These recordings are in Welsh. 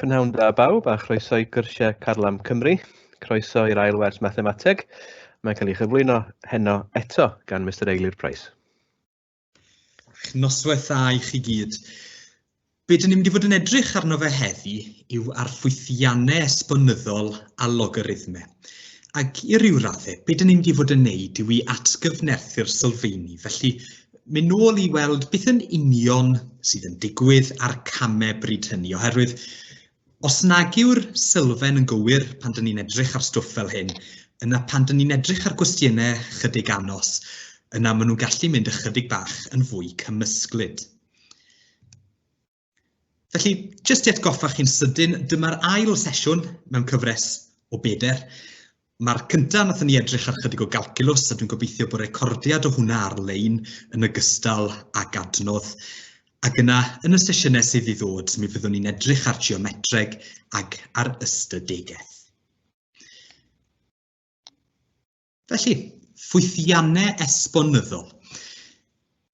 Prynhawn da bawb a chroeso i gyrsiau Carlam Cymru. Croeso i'r ail wers mathemateg. Mae'n cael ei chyflwyno heno eto gan Mr Eilir Price. Noswaith dda i chi gyd. Be dyn ni'n mynd i fod yn edrych arno fe heddi yw ar ffwythiannau esbonyddol a logarithmau. Ac i ryw raddau, be dyn ni'n mynd i fod yn neud yw i atgyfnerthu'r sylfeini, felly mynd nôl i weld beth yn union sydd yn digwydd a'r camau bryd hynny, oherwydd os nag yw'r sylfaen yn gywir pan dyn ni'n edrych ar stwff fel hyn, yna pan dyn ni'n edrych ar gwestiynau chydig anos, yna maen nhw'n gallu mynd ychydig bach yn fwy cymysglyd. Felly, jyst i atgoffa chi'n sydyn, dyma'r ail sesiwn mewn cyfres o beder. Mae'r cyntaf nath ni edrych ar chydig o galculus, a dwi'n gobeithio bod recordiad o hwnna ar-lein yn ogystal ag adnodd. Ac yna, yn y sesiynau sydd i ddod, mi fyddwn ni'n edrych ar geometreg ac ar ystadegaeth. Felly, ffwythiannau esbonyddol.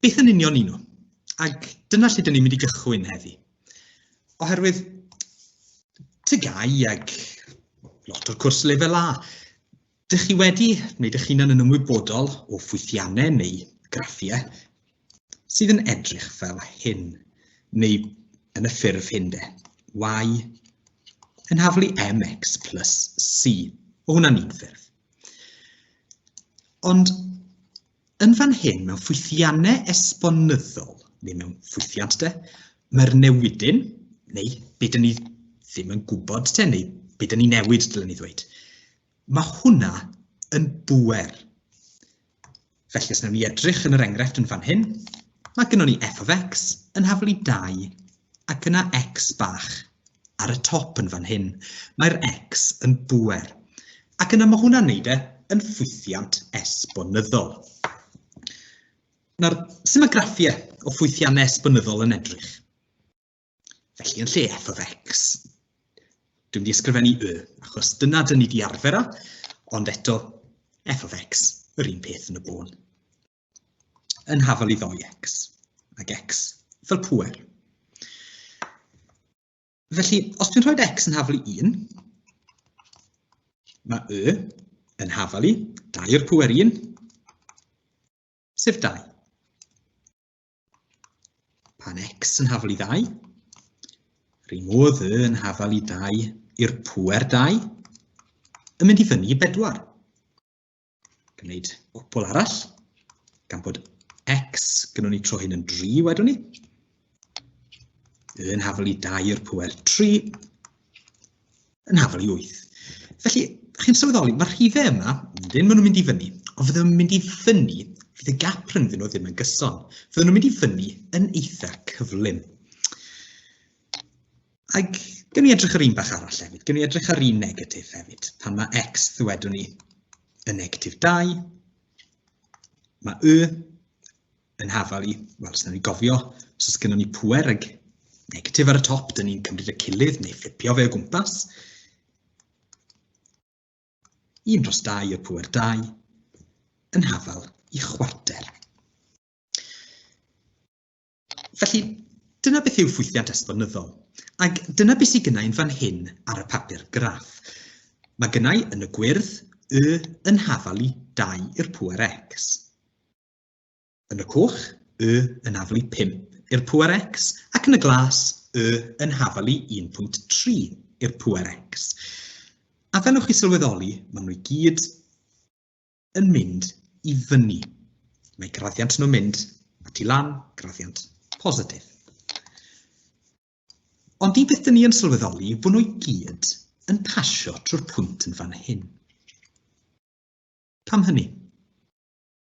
Beth yn union un nhw? Ac dyna lle dyn ni'n mynd i gychwyn heddi. Oherwydd tygau ag lot o'r cwrs lefel A, dych chi wedi wneud eich hunan yn ymwybodol o ffwythiannau neu graffiau sydd yn edrych fel hyn, neu yn y ffurf hyn de, y yn haflu mx plus c. O hwnna'n un ffurf. Ond yn fan hyn, mewn ffwythiannau esbonyddol, neu mewn ffwythiant de, mae'r newidyn, neu be dyn ni ddim yn gwybod te, neu be dyn ni newid, dylen ni ddweud, mae hwnna yn bwer. Felly os wnawn ni edrych yn yr enghraifft yn fan hyn, mae gennym ni f of x yn haflu 2 ac yna x bach ar y top yn fan hyn. Mae'r x yn bwer. Ac yna mae hwnna'n neud e yn ffwythiant esbonyddol. Nawr, sy'n mae graffiau o ffwythiannau esbonyddol yn edrych? Felly, yn lle f of x, dwi'n wedi ysgrifennu y, achos dyna dyn ni wedi arfer â, ond eto f of x, yr un peth yn y bôn. Yn hafal i ddoi x, ac x fel pwer. Felly, os dwi'n rhoi x yn hafal i 1, mae y yn hafal i 2 i'r pwer 1, sef 2. Pan x yn hafal i ddau, rhywun modd y yn hafal i ddau i'r pwer dau, yn mynd i fyny i bedwar. Gwneud gwpl arall, gan bod x gynnwn ni tro hyn yn 3 wedwn ni. Y yn hafal i dau i'r pwer 3, yn hafal i 8. Felly, chi'n sylweddoli, mae'r rhifau yma, wedyn maen nhw'n mynd i fyny, ond fydden nhw'n mynd i fyny, fydd y gap rhyngddyn nhw ddim yn gyson. Fydden nhw'n mynd i fyny yn eitha cyflym. Ac gyn ni edrych ar un bach arall hefyd, gyn ni edrych ar un negatif hefyd, pan mae x ddwedwn ni yn negatif 2, mae y yn hafal i, wel, os ni'n gofio, os oes gennym ni pwer ag negatif ar y top, dyn ni'n cymryd y cilydd neu fflipio fe o gwmpas. Un dros dau y pwer dau yn hafal i chwarter. Felly, dyna beth yw ffwythiant esbonyddol. Ac dyna beth sydd gynnau yn fan hyn ar y papur graff. Mae gynnau yn y gwyrdd y yn hafal i 2 i'r pwer x. Yn y coch, y yn afalu 5 i'r pŵer x, ac yn y glas, y yn hafalu 1.3 i'r pŵer x. A fel yw'ch chi sylweddoli, maen nhw i gyd yn mynd i fyny. Mae graddiant nhw'n mynd at i lan, graddiant positif. Ond un peth dyn ni yn sylweddoli fod nhw i gyd yn pasio trwy'r pwynt yn fan hyn. Pam hynny?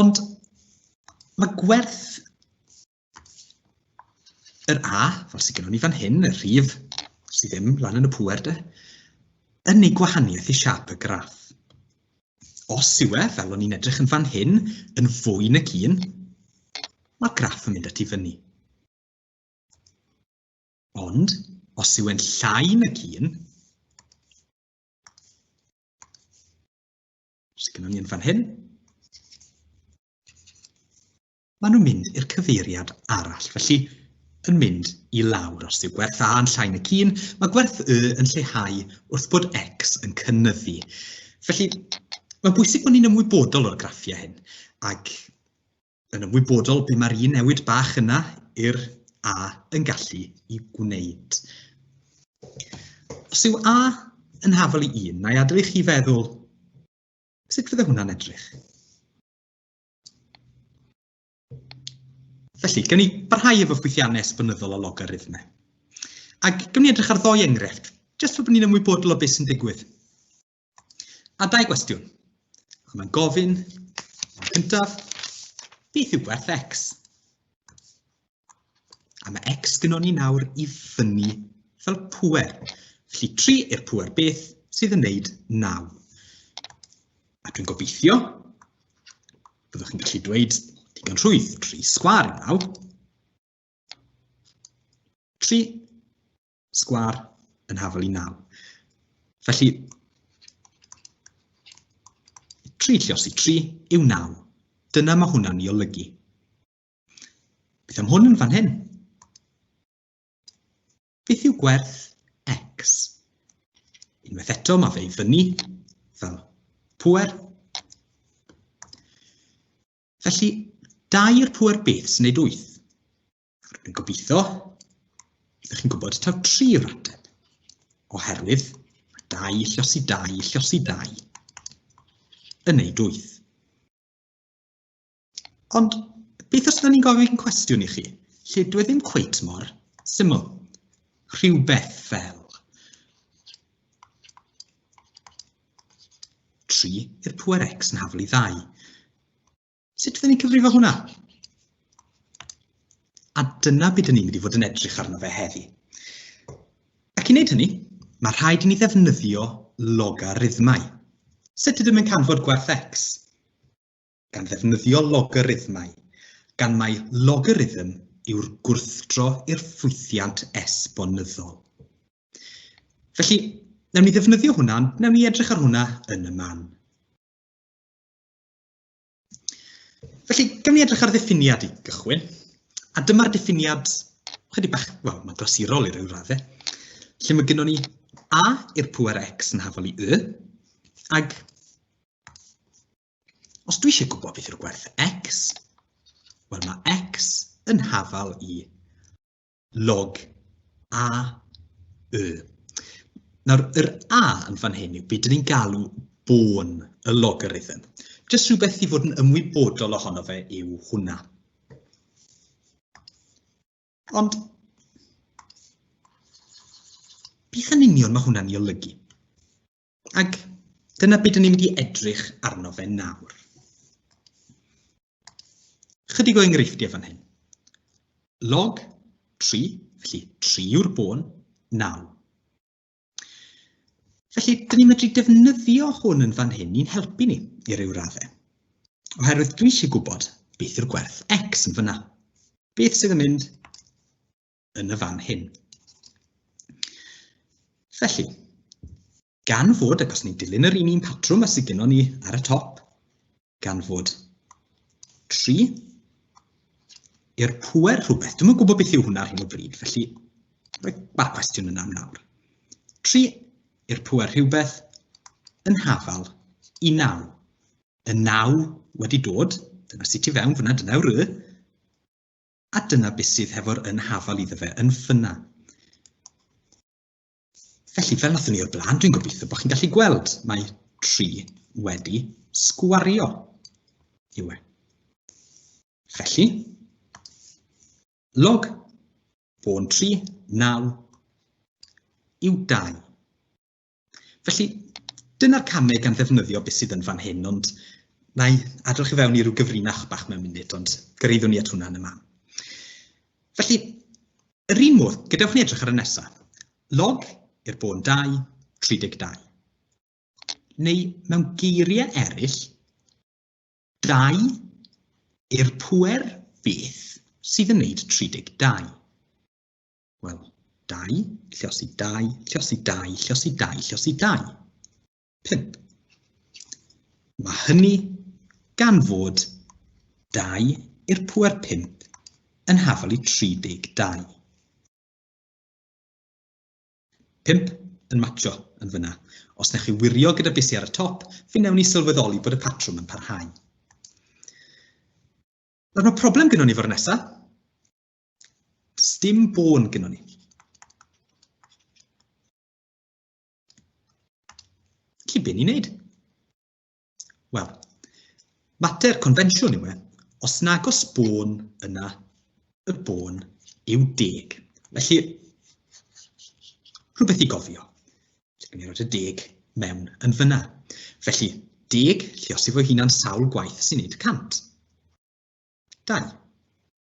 Ond mae gwerth yr A, fel sydd gennym ni fan hyn, y rhif sydd ddim lan yn y pwer de, yn ei gwahaniaeth i siap y graff. Os yw e, fel o'n i'n edrych yn fan hyn, yn fwy na cyn, mae'r graff yn mynd at i fyny. Ond, os yw e'n llai na cyn, Sy'n gynnal ni'n fan hyn. Maen nhw'n mynd i'r cyfeiriad arall, felly yn mynd i lawr. Os yw gwerth A yn llai na cyn, mae gwerth Y yn lleihau wrth bod X yn cynnyddu. Felly, mae'n bwysig bod ni'n ymwybodol o'r graffiau hyn, ac yn ymwybodol be mae'r un newid bach yna i'r A yn gallu i gwneud. Os yw A yn hafol i 1, na i adael i chi feddwl sut fydde hwnna'n edrych. Felly, gawn ni barhau efo ffwythiannau esbynyddol o logarithmau. Ac gawn ni edrych ar ddoi enghraifft, jyst fel bod ni'n ymwybodol o beth sy'n digwydd. A dau gwestiwn. Ac mae'n gofyn, cyntaf, beth yw gwerth x? A mae x gynon ni nawr i fyny fel pwer. Felly 3 i'r pwer beth sydd yn wneud 9. A dwi'n gobeithio, byddwch chi'n gallu dweud digon rhwydd, 3 sgwar yn 9. 3 Sgwâr yn hafal i 9. Felly, 3 lliosi 3 yw 9. Dyna mae hwnna'n ei olygu. Beth am hwn yn fan hyn? Beth yw gwerth x? Unwaith eto, mae fe i fyny fel pwer. Felly, dair pwer beth sy'n neud wyth? Rwy'n gobeithio ydych chi'n gwybod taw tri yw'r ateb, oherwydd mae dau llosi dau llosi dau yn ei dwyth. Ond beth os ydym ni'n gofyn cwestiwn i chi, lle dwi e ddim cweit mor syml, rhywbeth fel 3 i'r pwer x yn haflu ddau. Sut ydyn ni'n cyfrifo hwnna? A dyna beth ydyn ni'n mynd i fod yn edrych arno fe heddi. Ac i wneud hynny, mae rhaid i ni ddefnyddio logarithmau. Sut ydym yn canfod gwerth x? Gan ddefnyddio logarithmau, gan mai logarithm yw'r gwrthdro i'r ffwythiant esbonyddol. Felly, newn ni ddefnyddio hwnna, newn ni edrych ar hwnna yn y man. Felly, gym ni edrych ar ddiffiniad i gychwyn, a dyma'r diffiniad, chydig bach, wel, mae'n glasurol i ryw raddau, lle mae gennym ni a i'r pwer x yn hafol i y, ag os dwi eisiau gwybod beth yw'r gwerth x, wel mae x yn hafal i log a y. Nawr, yr a yn fan hyn yw beth dyn ni'n galw bôn y logarithm. Jyst rhywbeth i fod yn ymwybodol ohono fe yw hwnna. Ond, beth yn union mae hwnna'n ei olygu? Ac dyna beth ni'n mynd i edrych arno fe nawr. Chydig o enghreifftiau fan hyn. Log 3, felly 3 yw'r bôn, 9. Felly, dyn ni'n medru defnyddio hwn yn fan hyn i'n helpu ni i ryw raddau. Oherwydd dwi eisiau gwybod beth yw'r gwerth x yn fyna. Beth sydd yn mynd yn y fan hyn. Felly, gan fod, ac os ni'n dilyn yr un un patrwm a sydd gennym ni ar y top, gan fod 3 i'r pwer rhywbeth. Dwi'n gwybod beth yw hwnna ar hyn o bryd, felly mae'r cwestiwn yna am nawr. 3 i'r pwer rhywbeth yn hafal i 9. Y 9 wedi dod, dyna sut i fewn fyna, dyna yw'r y, A dyna beth sydd hefo'r yn hafal iddo fe, yn ffynna. Felly, fel nathon ni o'r blaen, dwi'n gobeithio bod chi'n gallu gweld, mae 3 wedi sgwario yw e. Felly, log o'n 3, 9 yw 2. Felly, dyna'r camau gan ddefnyddio beth sydd yn fan hyn, ond na i adroch i fewn i ryw gyfrinach bach mewn munud, ond gyreiddwn ni at hwnna yn y man. Felly, yr un modd, gadewch ni edrych ar y nesaf. Log i'r bôn 2, 32. Neu, mewn geiriau eraill, 2 i'r pwer beth sydd yn wneud 32. Wel, dau, llosi dau, llosi dau, llosi dau, llosi dau. Pimp. Mae hynny gan fod dau i'r pwer pimp yn hafal i 32. Pimp yn matcho yn fyna. Os nech chi wirio gyda bisi ar y top, fe newn ni sylweddoli bod y patrwm yn parhau. Nawr mae problem gyda ni fo'r nesaf. Sdim bôn gyda ni. Felly, be ni'n neud? Wel, mater confensiwn yw e, os nag os bôn yna, y bôn yw deg. Felly, rhywbeth i gofio. Felly, gwn i roed y deg mewn yn fyna. Felly, deg, lle os efo hunan sawl gwaith sy'n neud cant. Dau.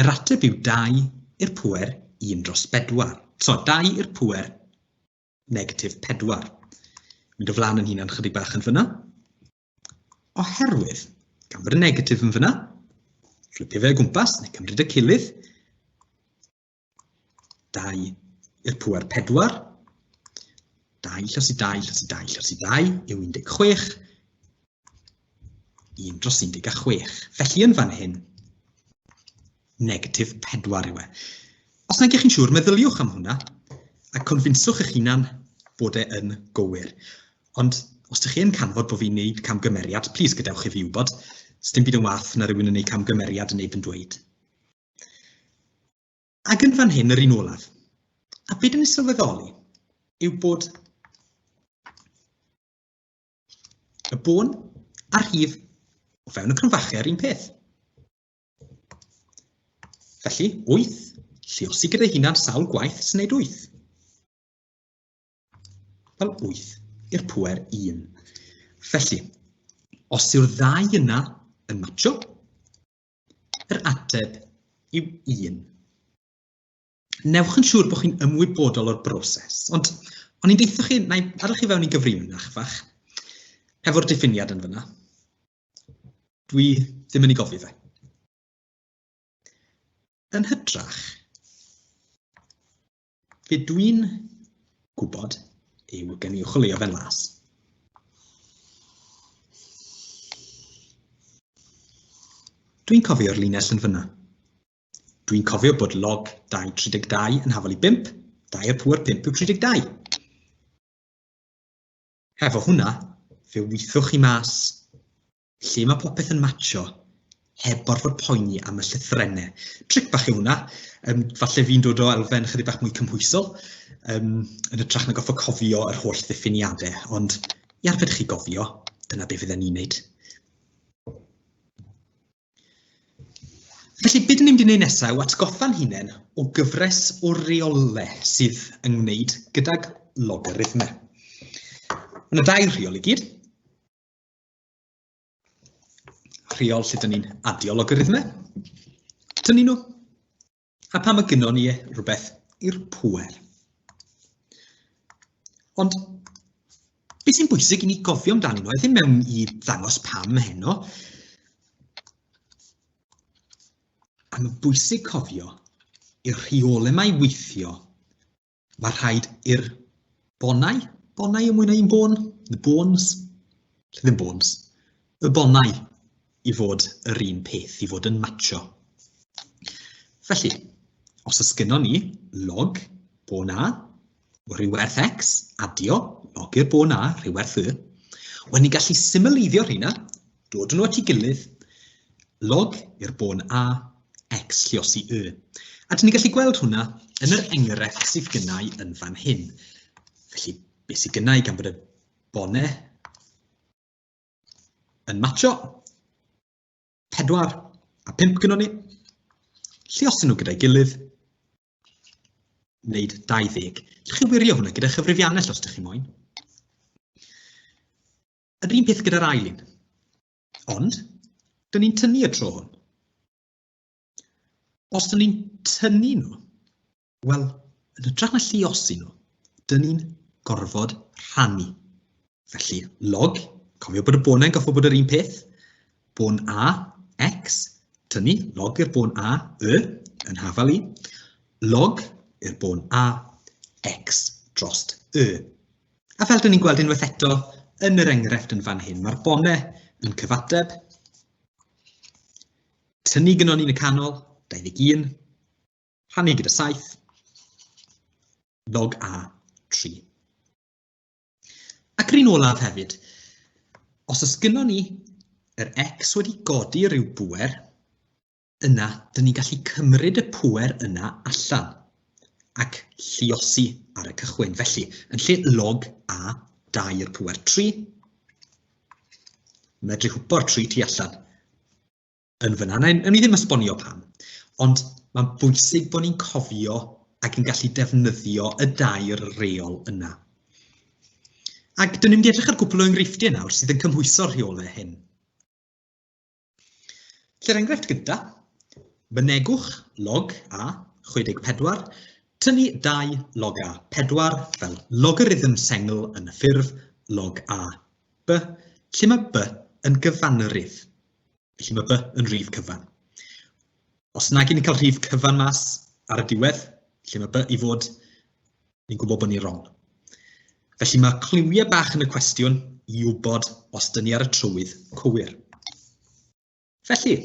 Yr ateb yw 2 i'r pŵer 1 dros 4. So, 2 i'r pŵer negatif 4. Mynd o flaen yn hunan chydig bach yn fyna. Oherwydd, gan bod y negatif yn fyna, fflipio fe o gwmpas, neu cymryd y cilydd, 2 i'r pwer 4, 2 llosi 2 llosi 2 llosi 2 yw 16, 1 dros 16. Felly yn fan hyn, negatif 4 yw e. Os nag ych chi'n siŵr, meddyliwch am hwnna a confinswch eich hunan bod e yn gywir. Ond os ydych chi yn canfod bod fi'n gwneud camgymeriad, plis gadewch i fi wybod. Sdim byd yn wath na rhywun yn gwneud camgymeriad yn ei pen dweud. Ac yn fan hyn, yr un olaf. A beth yn ei sylweddoli yw bod y bôn a'r rhif o fewn y cromfachau yr un peth. Felly, 8, lliosi gyda hunan sawl gwaith sy'n neud 8. Fel 8 i'r pwer 1. Felly, os yw'r ddau yna yn matcho, Yr ateb yw un. Newch yn siŵr bod chi'n ymwybodol o'r broses, ond o'n i'n deitha chi, na i adael chi fewn i gyfrin na chyfach, efo'r diffiniad yn fyna. Dwi ddim yn ei gofio fe. Yn hytrach, Be dwi'n gwybod yw gen i chwilio fe'n las. Dwi'n cofio'r linell yn fyna. Dwi'n cofio bod log 232 yn hafal i 5, 2 y pŵer 5 yw 32. Hefo hwnna, fe wythwch chi mas Lle mae popeth yn matcho, heb gorfod poeni am y llythrennau. Tric bach yw hwnna. Um, falle fi'n dod o elfen chydig bach mwy cymhwysol, um, yn y trach na goffa cofio yr holl ddiffiniadau, ond i arfer chi gofio, dyna beth fydden ni'n neud. Felly, beth ni'n mynd i wneud nesaf yw atgoffa'n hunain o gyfres o reole sydd yn wneud gydag logarithmau. Mae yna dau reol i gyd. Rheol lle dyn ni'n adio logarithmau. Dyn ni nhw. A pam y gynon ni e, rhywbeth i'r pwer. Ond beth sy'n bwysig i ni gofio amdani nhw, a ddim mewn i ddangos pam heno, a mae'n bwysig cofio i'r rheolau mae weithio Mae rhaid i'r bonau, bonau yn mwy na un bôn, the bones, lle ddim bones, y bonau i fod yr un peth, i fod yn matcho. Felly, os ys gynnon ni log bôn A, rhyw werth X, adio, log i'r bôn A, rhyw werth Y, Wel, ni'n gallu symleiddio'r rheina Dod nhw at ei gilydd, log i'r bôn A, X lliosi Y. A dyn ni'n gallu gweld hwnna yn yr enghraifft sydd gynnau yn fan hyn. Felly, beth sydd gynnau gan bod y bonau yn matcho, 4 a 5 gynnwn ni, lliosen nhw gyda'i gilydd, wneud 20. Ydych chi wirio hwnna gyda chyfrifiannell os ydych chi moyn? Yr un peth gyda'r ail un. Ond, dyn ni'n tynnu y tro hwn. Os dyn ni'n tynnu nhw, wel, yn y drach na lliosi nhw, dyn ni'n gorfod rhannu. Felly, log, cofio bod y bonau'n gofio bod yr un peth, bon A, X, tynnu log i'r bôn A, y, yn hafal i, log i'r bôn A, X drost y. A fel dyn ni'n gweld unwaith eto yn yr enghraifft yn fan hyn, mae'r bonau yn cyfateb. Tynnu gyno ni'n y canol, 21, rhannu gyda 7, log A 3. Ac rhywun olaf hefyd, os oes gyno ni yr x wedi godi rhyw bwer, yna dyn ni'n gallu cymryd y pwer yna allan ac lliosi ar y cychwyn. Felly, yn lle log a 2 i'r pwer 3, medru hwpo'r 3 tu allan yn fyna. Nawn ni ddim esbonio pam, ond mae'n bwysig bod ni'n cofio ac yn gallu defnyddio y dair reol yna. Ac dyn ni'n mynd i edrych ar gwbl o enghreifftiau nawr sydd yn cymhwyso'r rheolau hyn. Lle'r enghraifft gyda, mynegwch log a 64, tynnu 2 log a 4 fel logarithm sengl yn y ffurf log a b, lle mae b yn gyfanrif, felly mae b yn rhif cyfan. Os nag yn cael rhif cyfan mas ar y diwedd, lle mae b i fod ni'n gwybod bod ni'n wrong. Felly mae cliwiau bach yn y cwestiwn i wybod os dyn ni ar y trywydd cywir. Felly,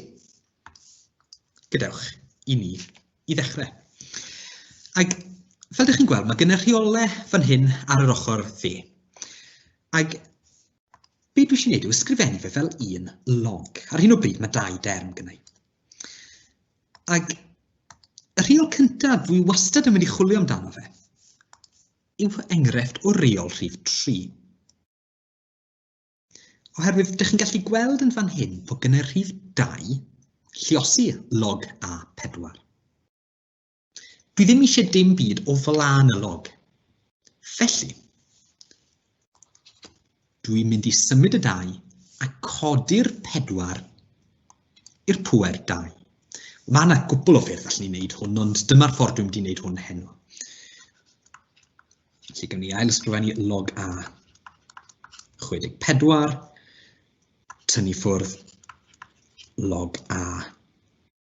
gadewch i ni i ddechrau. Ac fel ydych chi'n gweld, mae gen y rheolau fan hyn ar yr ochr dde. Ac Be dwi eisiau gwneud yw ysgrifennu fe fel un log. Ar hyn o bryd mae dau derm gynnau. Ac y rheol cyntaf dwi wastad yn mynd i chwilio amdano fe yw enghraifft o reol rhif 3. Oherwydd, ydych chi'n gallu gweld yn fan hyn bod gynnau rhif 2 lliosi log A4. Dwi ddim eisiau dim byd o flaen y log. Felly, dwi'n mynd i symud y dau a codi'r pedwar i'r pwer dau. Mae yna gwbl o ffyrdd allan ni'n wneud hwn, ond dyma'r ffordd dwi'n mynd i wneud hwn heno. Felly, gawn ni ail ysgrifennu log A 64, tynnu ffwrdd log A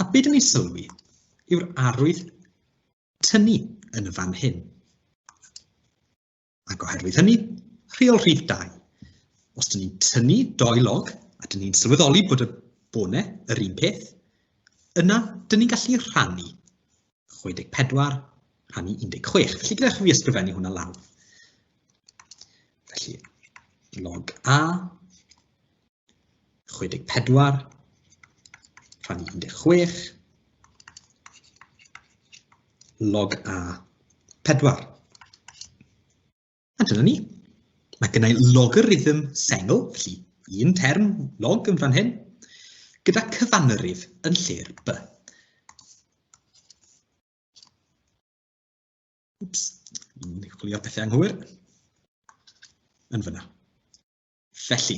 A beth ni sylwi yw'r arwydd tynnu yn y fan hyn. Ac oherwydd hynny, rheol rhif 2. Os dyn ni'n tynnu doi log a dyn ni'n sylweddoli bod y bone yr un peth, yna dyn ni'n gallu rhannu 64 rhannu 16. Felly gyda chi ysgrifennu hwnna lawr. Felly, log A 64 rhan 16 log a 4. A dyna ni. Mae gennau logarithm sengl, felly un term log yn fan hyn, gyda cyfanrif yn lle'r b. Ups, ni'n chwilio pethau anghywir. Yn fyna. Felly,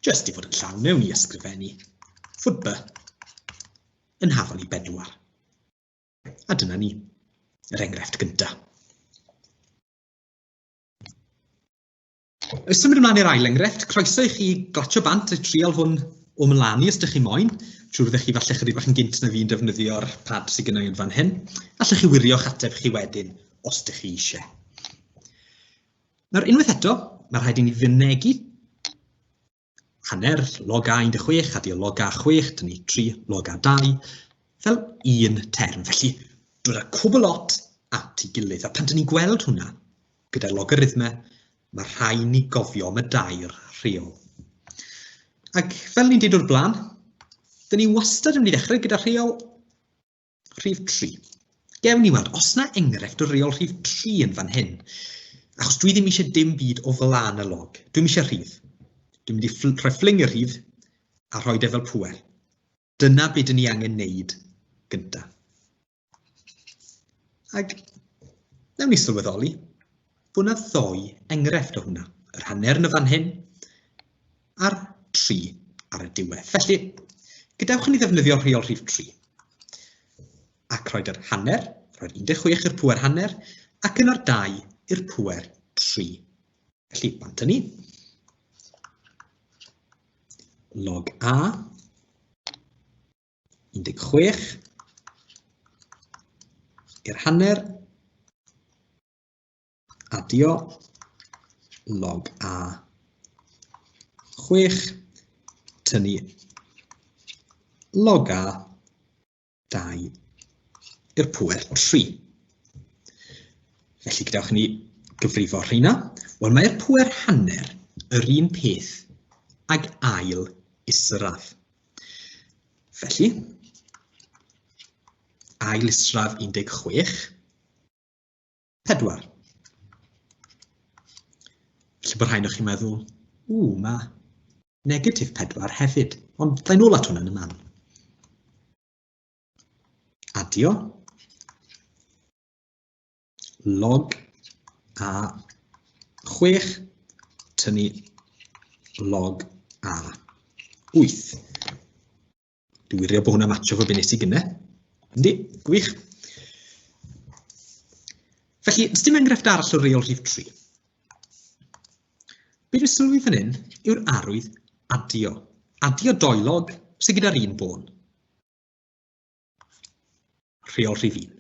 jyst i fod yn llawn mewn i ysgrifennu fod by yn hafal i bedwar. A dyna ni, yr enghraifft gyntaf. Oes symud ymlaen i'r ail enghraifft, croeso i chi glatio bant y trial hwn o mlaen i os ydych chi moyn. Trwy fyddech chi falle chydig bach yn gynt na fi'n defnyddio'r pad sydd gynnau yn fan hyn. Allwch chi wirio'ch ateb chi wedyn os ydych chi eisiau. Nawr, unwaith eto, mae rhaid i ni fynegu hanner log a 16 a dio log a 6, dyn ni 3 log a 2, fel un term. Felly, dod â cwbl lot at ei gilydd. A pan dyn ni'n gweld hwnna, gyda'r logarithmau, mae rhai ni gofio am y dair rheol. Ac fel ni'n dweud o'r blaen, dyn ni wastad yn mynd i ddechrau gyda rheol Rhif 3. Gewn ni weld os na enghraifft o reol rhif 3 yn fan hyn. Achos dwi ddim eisiau dim byd o flan y log. Dwi'n eisiau rhif. Dwi'n mynd i ffl rhoi ffling y rhif a rhoi defel pwer. Dyna beth dyn ni angen neud gyntaf. Ac newn ni sylweddoli Fo na ddou enghraifft o hwnna, yr hanner yn fan hyn, a'r tri ar y diwedd. Felly, gadewch i ni ddefnyddio rheol rhif 3. Ac roed yr hanner, roed 16 i'r pwer hanner, ac yno'r 2 i'r pwer 3. Felly, bant ni. Log A, 16 i'r hanner adio log a 6, tynnu log a 2 i'r pwer 3. Felly gadewch ni gyfrifo rheina. Wel, mae'r pwer hanner yr un peth ag ail isradd. Felly, ail isradd 16, 4. Felly bod rhain o'ch chi'n meddwl, ww, mae negatif 4 hefyd, ond ddain ôl at hwnna yn y man. Adio, log a 6, tynnu log a 8. Dwi'n wirio bod hwnna'n atio fo be nes i gynne. Yndi, gwych. Felly, ys dim enghraifft arall o reol rhif 3. Be dwi'n sylwi fan hyn yw'r arwydd adio. Adio doelog sydd gyda'r un bôn. Rheol rhif 1.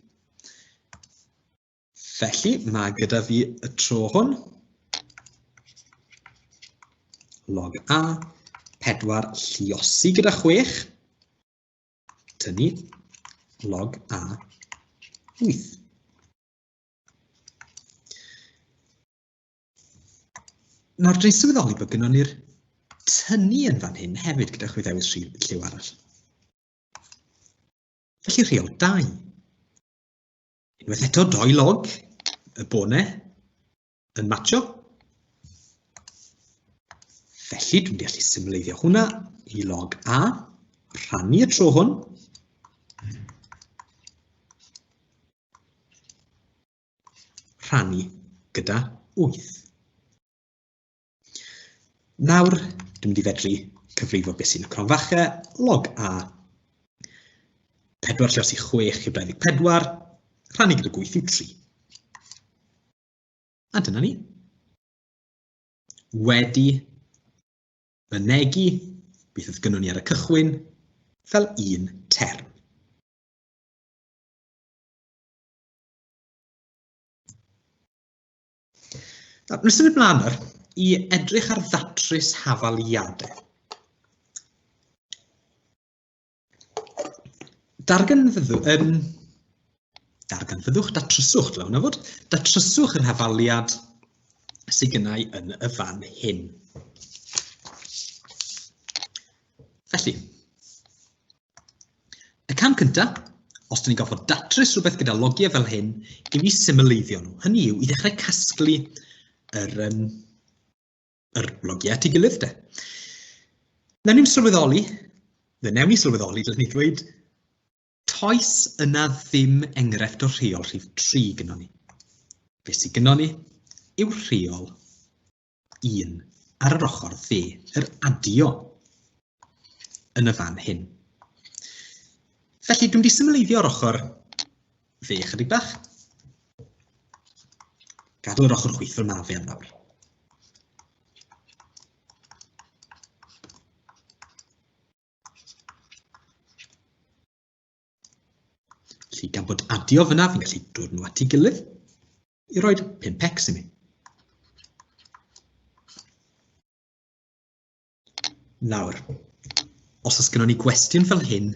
Felly, mae gyda fi y tro hwn, log A, 4 lliosi gyda 6, tynnu log A 8. Nawr, dwi'n sylweddoli bod gynnwn ni'r tynnu yn fan hyn hefyd gyda chwi ddewis lliw arall. Felly rheol 2. Unwaith eto, doi log y bonau yn matcho. Felly, dwi'n gallu symleiddio hwnna i log A, rhannu y tro hwn. Rhannu gyda 8. Nawr, dwi'n mynd i fedru cyfrifo beth sy'n y cronfachau, log A, 4 lle os i 6 i 24, rhannu gyda gwyth yw 3. A dyna ni. Wedi mynegu beth oedd gynnon ni ar y cychwyn fel un term. Nawr, nes yn y blaen nawr, i edrych ar ddatrys hafaliadau. Darganfyddwch, um, darganfyddwch, datryswch, dylai hwnna fod, datryswch yr hafaliad sydd gennau yn y fan hyn. Felly, Y cam cyntaf, os dyn ni'n gorfod datrys rhywbeth gyda logiau fel hyn, i fi symleiddio nhw. Hynny yw, i ddechrau casglu yr, um, yr logiau at ei gilydd de. Newn ni'n sylweddoli, fe newn ni sylweddoli, dylwn ni ddweud, toes yna ddim enghraifft o rheol rhif 3 gyda ni. Fe sydd gyda ni yw rheol 1 ar yr ochr dde, yr adio yn y fan hyn. Felly, dwi'n wedi symleiddio ar ochr dde chydig bach. Gadw yr ochr chwith fel mae fe am nawr. Felly, gan bod adio fyna, fi'n gallu dod nhw at ei gilydd i roi 5x i mi. Nawr, os oes gennym ni gwestiwn fel hyn,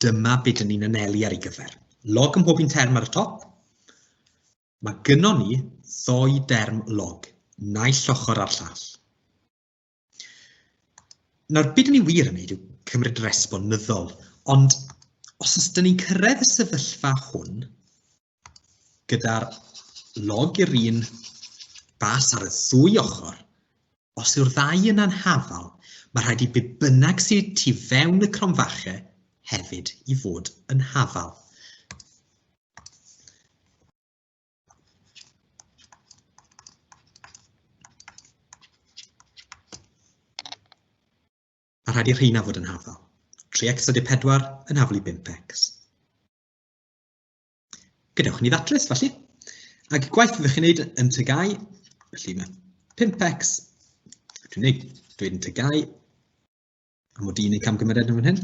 dyma beth dyn ni'n anelu ar ei gyfer. Log ym mhob un term ar y top. Mae gynnon ni ddoi derm log, naill ochr a'r llall. Nawr, beth ni wir yn wneud yw cymryd resbon nyddol, ond os ydyn ni'n cyrraedd y sefyllfa hwn gyda'r log i'r un bas ar y ddwy ochr, os yw'r ddau yn anhafal, mae rhaid i be bynnag sydd tu fewn y cromfachau hefyd i fod yn hafal. A rhaid i'r rheina fod yn hafal. 3x a 4 yn haflu 5x. Gadewch ni ddatrys, felly. Ac gwaith fyddwch chi'n gwneud yn tygau, felly mae 5x, dwi'n gwneud, dwi'n tygau, a mod i'n ei camgymeriad yn fan hyn.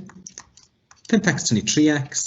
5x tynnu 3x,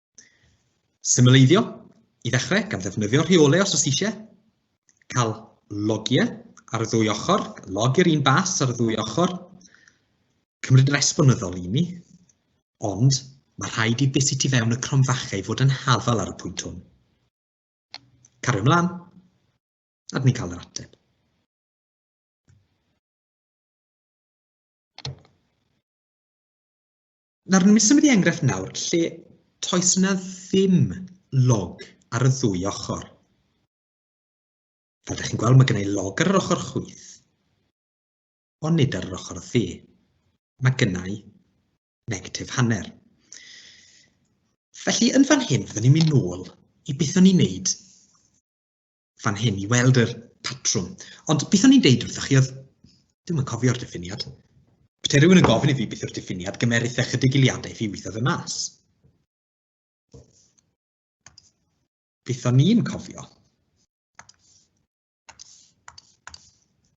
Symleiddio, i ddechrau, gan ddefnyddio rheolau os oes eisiau, cael logiau ar y ddwy ochr, log i'r un bas ar y ddwy ochr, cymryd resbonyddol i ni, ond mae rhaid i beth sy'n tu fewn y cromfachau fod yn hafal ar y pwynt hwn. Cario ymlaen, a dyn ni'n cael yr ateb. Nawr, ni'n symud i enghraifft nawr lle toes yna ddim log ar y ddwy ochr. Fel ydych chi'n gweld, mae gen i log ar yr ochr chwyth, ond nid ar yr ochr dde. Mae gen i negatif hanner. Felly, yn fan hyn, byddwn ni'n mynd nôl i beth o'n i'n neud fan hyn i weld yr patrwm. Ond beth o'n i'n deud wrthych chi oedd, ddim yn cofio'r diffiniad. Pe rhywun yn gofyn i fi beth yw'r diffiniad, gymerith e chydig iliadau i fi weithio fy mas. Beth o'n i'n cofio?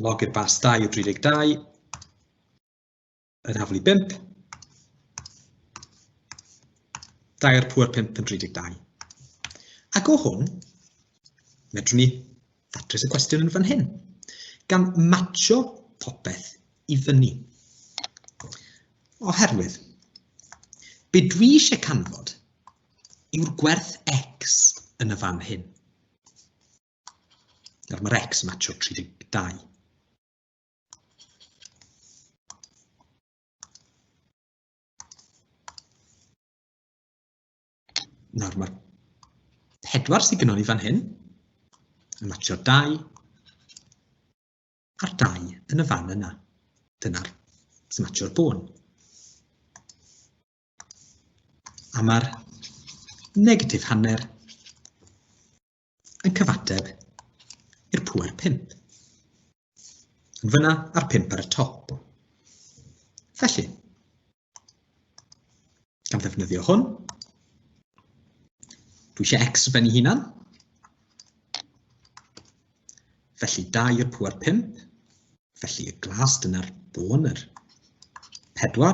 Log i'r bas 2 o 32 yn haflu 5. 2 ar pŵer 5 yn 32. Ac o hwn, medrwn ni ddatrys y cwestiwn yn fan hyn, gan matcho popeth i fyny. Oherwydd, be dwi eisiau canfod yw'r gwerth x yn y fan hyn. Nawr mae'r x yn matcho 32. Nawr mae'r pedwar sydd gynnwn ni fan hyn yn matcho 2 a'r 2 yn y fan yna. Dyna'r sy'n matcho'r bôn. A mae'r negatif hanner yn cyfateb i'r pŵer 5. Yn fyna a'r 5 ar y top. Felly, gan ddefnyddio hwn, dwi eisiau x yn benni hunan. Felly 2 i'r pŵer 5. Felly y glas dyna'r bôn yr 4.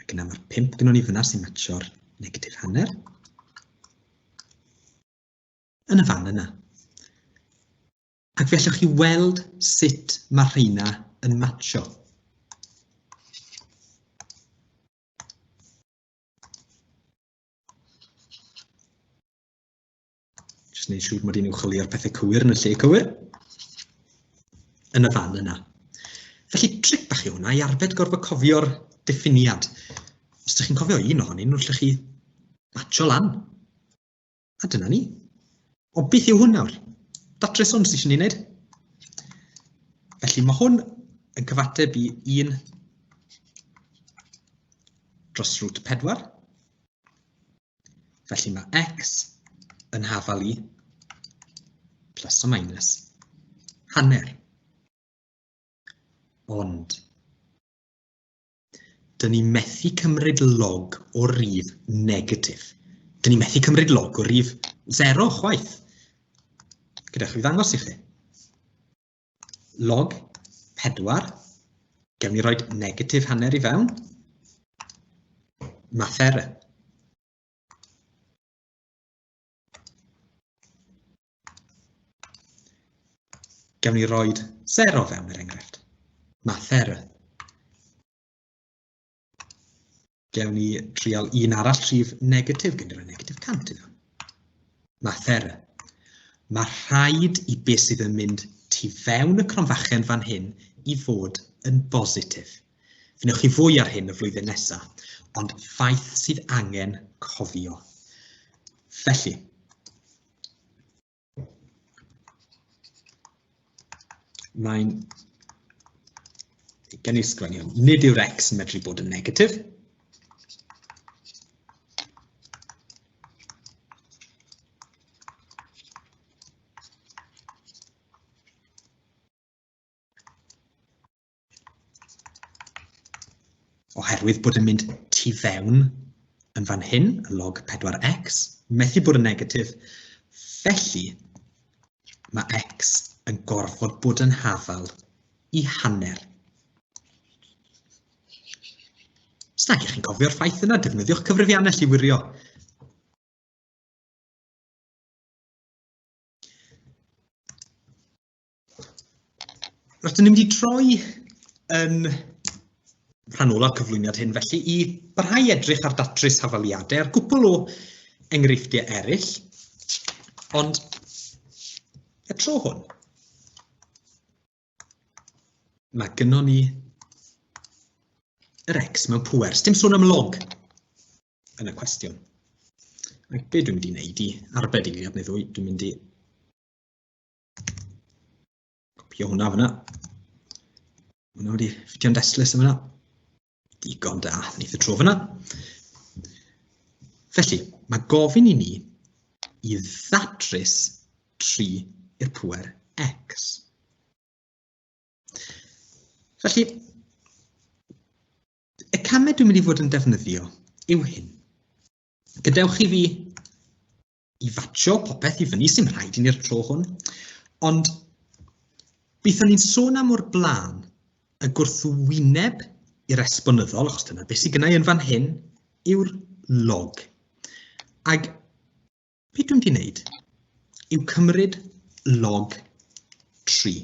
Ac yna mae'r pimp gynnwn ni fyna sy'n matcho'r negatif hanner. Yn y fan yna. Ac fe allwch chi weld sut mae'r rheina yn matcho. Just neud siŵr mod i'n i'w chwilio'r pethau cywir yn y lle cywir. Yn y fan yna. Felly tric bach i hwnna i arbed gorfod cofio'r diffiniad. Os ydych chi'n cofio un ohonyn nhw, allwch chi matcho lan. A dyna ni. O beth yw hwn nawr? Datres hwn sydd eisiau ni wneud. Felly mae hwn yn cyfateb i 1 dros root 4 Felly mae x yn hafal i plus o minus hanner. Ond, dyn ni methu cymryd log o rif negatif. Dyn ni methu cymryd log o rif 0 chwaith. Gyda chi ddangos i chi. log 4, gewn ni roi negatif hanner i fewn, math error. Gewn ni roi 0 fewn er enghraifft, math error. Gewn ni trial un arall rhif negatif, gen i'r negatif 100 iddo. Mathera. Mae rhaid i beth sydd yn mynd tu fewn y cronfachen fan hyn i fod yn bositif. Fynwch chi fwy ar hyn y flwyddyn nesaf, ond ffaith sydd angen cofio. Felly, Mae'n gen i'r sgwennu hwn. Nid yw'r x yn medru bod yn negatif. Oherwydd bod yn mynd tu fewn yn fan hyn, y log 4x, methu bod yn negatif, felly mae x yn gorfod bod yn hafal i hanner. Os nag ych chi'n cofio'r ffaith yna, defnyddiwch cyfrifiannell i wirio. Rydyn ni'n mynd i droi yn rhan ola cyflwyniad hyn felly i barhau edrych ar datrys hafaliadau ar gwpl o enghreifftiau eraill, ond y tro hwn, mae gynnwn ni yr X mewn pwer. Dim sôn am log yn y cwestiwn. Ac be dwi'n mynd i wneud i arbed i ni, dwi'n mynd i Copio hwnna fyna. Hwnna wedi ffitio'n destlus yma. Digon da, ni y tro fyna. Felly, mae gofyn i ni i ddatrys 3 i'r pwer x. Felly, y camau dwi'n mynd i fod yn defnyddio yw hyn. Gadewch i fi i fatio popeth i fyny sy'n rhaid i ni'r tro hwn. Ond bython ni'n sôn am o'r blaen y gwrthwyneb i'r esbonyddol, achos dyna beth sydd gynnau yn fan hyn, yw'r log. Ac beth dwi'n di wneud yw cymryd log 3.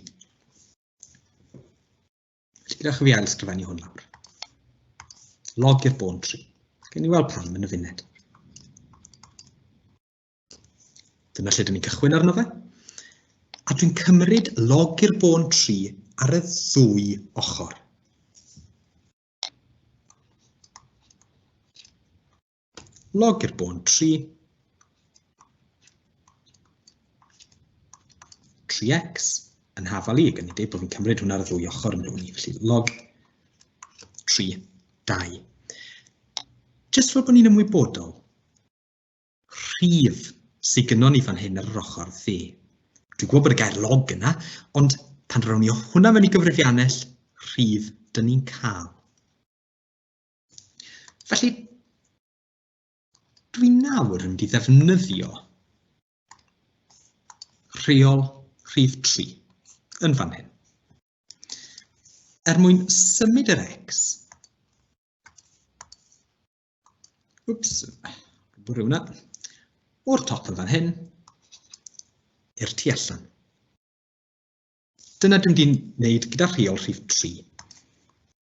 Rydych chi fi ail sgrifennu hwn lawr. Log i'r bôn tri. Gen i weld pam yn y funed. Dyna lle dyn ni'n cychwyn arno fe. A dwi'n cymryd log i'r bôn 3 ar y ddwy ochr. Log i'r bôn 3. 3x yn hafal i, gan i dweud bod fi'n cymryd hwnna ar y ddwy ochr yn rhywun i, felly log 3, 2. Jyst fel bod ni'n ymwybodol, rhif sydd gynnwn ni fan hyn ar yr ochr dde. Dwi'n gwybod bod y gair log yna, ond pan rown ni hwnna mewn i gyfrifiannell rhif, dyn ni'n cael Felly, dwi nawr yn mynd i ddefnyddio rheol rhif 3 yn fan hyn. Er mwyn symud yr X, wps, bwrw hwnna, o'r top yn fan hyn, i'r tu allan. Dyna dwi'n mynd i'n gwneud gyda rheol rhif 3.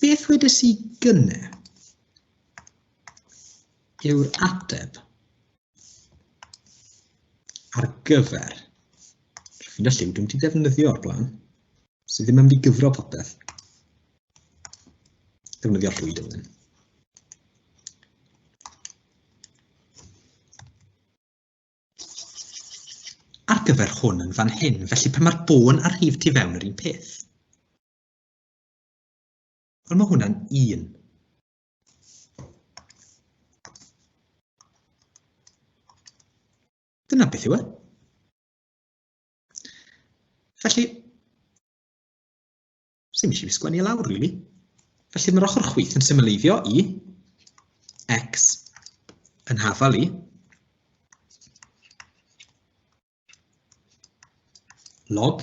Beth wedes i gynne? Yw'r ateb ar gyfer Rwy'n y lliw dwi'n wedi defnyddio o'r blaen, sydd ddim yn mynd i gyfro popeth. Defnyddio llwy dylun. ar gyfer hwn yn fan hyn, felly pan mae'r bôn a'r rhif tu fewn yr un peth. Wel, mae hwnna'n un. Dyna beth yw e. Felly, sy'n eisiau fi sgwennu e lawr, really. Felly mae'r ochr chwith yn symleiddio i x yn hafal i log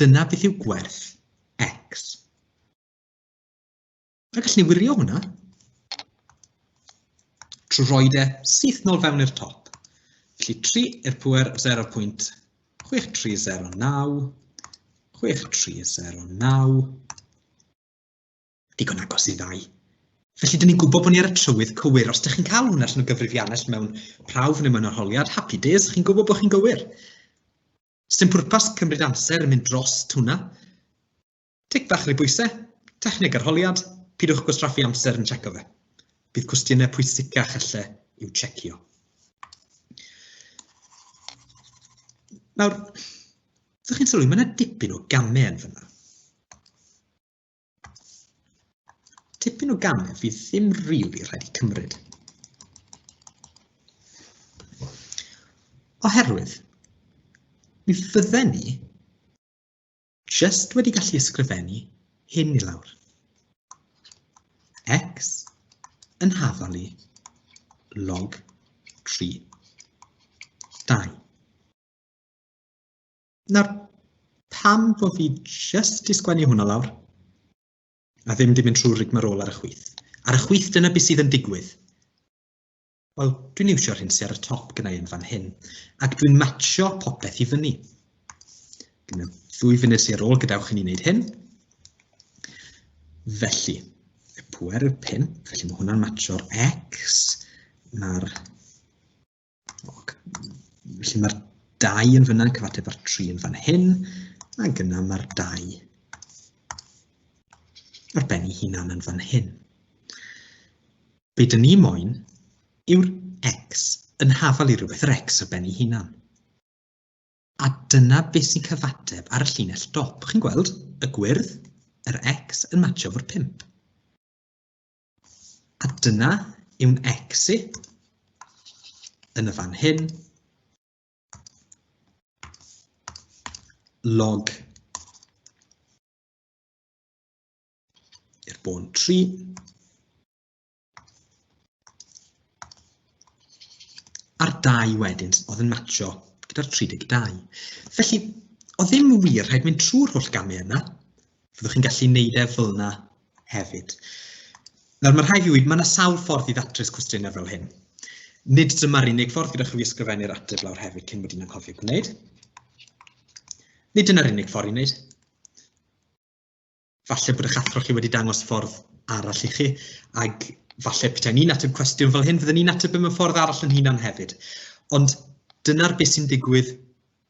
Dyna beth yw gwerth x. A gallen ni wirio hwnna trwy roi de syth nôl fewn i'r top. Felly 3 i'r pwer 0.6309, 6309, digon agos i ddau. Felly, dyn ni'n gwybod bod ni ar y trywydd cywir. Os ydych chi'n cael hwnna allan o gyfrifiannell mewn prawf neu mewn arholiad, happy days, chi'n gwybod bod chi'n gywir. Sdim pwrpas cymryd amser yn mynd dros hwnna. Tic fach neu bwysau, techneg arholiad, pidwch gwastraffu amser yn checo fe. Bydd cwestiynau pwysicach alle i'w checio. Nawr, ydych chi'n sylwi, mae yna dipyn o gamau yn fyna. Tipyn o gamau fydd ddim rili really rhaid i cymryd. Oherwydd, mi fydden ni just wedi gallu ysgrifennu hyn i lawr. x yn hafali log 3 2. Nawr, pam bod fi just i sgwennu hwnna lawr? A ddim di mynd trwy rigmarol ar y chwyth. Ar y chwyth dyna beth sydd yn digwydd. Wel, dwi'n iwsio'r hyn sydd ar y top gyda'i yn fan hyn, ac dwi'n matcho popeth i fyny. Gyda ddwy funud sydd ar ôl gadewch i ni wneud hyn. Felly, y pwer yw'r pimp, felly mae hwnna'n matcho'r X, mae'r Felly mae'r dau yn fyna yn cyfateb â'r tri yn fan hyn, ac yna mae'r dau ar ben ei hunan yn fan hyn. Be dyn ni moyn yw'r x yn hafal i rhywbeth, yr x ar ben ei hunan. A dyna beth sy'n cyfateb ar y llinell dop. Chi'n gweld y gwyrdd, yr x yn match o'r 5. A dyna yw'n exit yn y fan hyn. Log i'r bôn 3. A'r 2 wedyn oedd yn matcho gyda'r 32. Felly, o ddim wir rhaid mynd trwy'r holl gamau yna, Fyddwch chi'n gallu neud e fel yna hefyd. Nawr, mae rhai fi wedi, mae yna sawl ffordd i ddatrys cwestiynau fel hyn. Nid dyma'r unig ffordd gyda chi i ysgrifennu'r ateb lawr hefyd cyn bod yn anghofio gwneud. Nid dyna'r unig ffordd i wneud. Falle bod eich athro chi wedi dangos ffordd arall i chi, ac falle peta'n ni'n ateb cwestiwn fel hyn, fydden ni'n ateb mewn ffordd arall yn hunan hefyd. Ond dyna'r beth sy'n digwydd